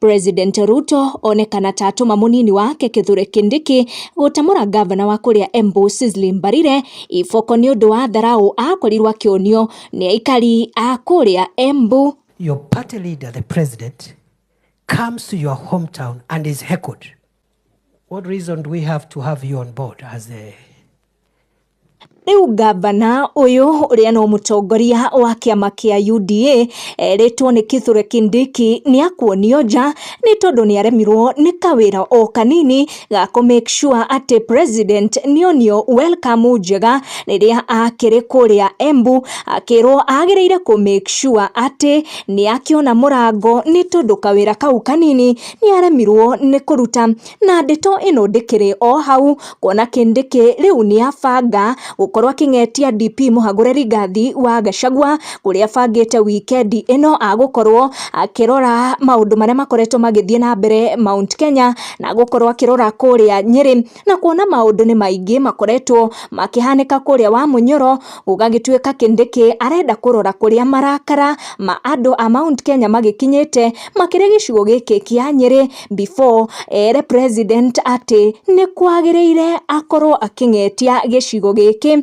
President Ruto onekana ta atũma mũnini wake Kithure Kindiki gũtamũra ngavana wa kũrĩa Embu Cecily Mbarire iboko nĩ ũndũ wa tharaũ akorirwo akĩonio nĩ aikari a kũrĩa Embu. Your party leader, the president, comes to your hometown and is heckled. What reason do we have to have you on board as a Rĩu ngavana ũyũ ũrĩa no mũtongoria wa kĩama kĩa UDA erĩtwo nĩ Kithure Kindiki nĩ akuonio nja nĩ tondũ nĩ aremirwo nĩ kawĩra o kanini ga kũ make sure atĩ president nĩ onio welcome njega rĩrĩa akĩrĩ kũrĩa Embu akĩrwo agĩrĩire kũ make sure atĩ nĩ akĩona mũrango nĩ tondũ kawĩra kau kanini nĩaremirwo nĩ kũruta na ndeto ĩno ndĩkĩrĩ o hau kuona Kindiki rĩu nĩabanga gũkorwo akĩng'etia DP Mũhagũre Rigathi wa Gachagua kũrĩa abangĩte wikendi ĩno agũkorwo akĩrora maũndũ marĩa makoretwo magĩthiĩ na mbere Mount Kenya na agũkorwo akĩrora kũrĩa Nyĩrĩ na kuona maũndũ nĩ maingĩ makoretwo makĩhanĩka kũrĩa wa Mũnyoro, gũgagĩtuĩka Kindiki arenda kũrora kũrĩa marakara ma andũ a Mount Kenya magĩkinyĩte makĩrĩ gĩcigo gĩkĩ kĩa Nyĩrĩ before ere president atĩ nĩ kwagĩrĩire akorwo akĩng'etia gĩcigo gĩkĩ.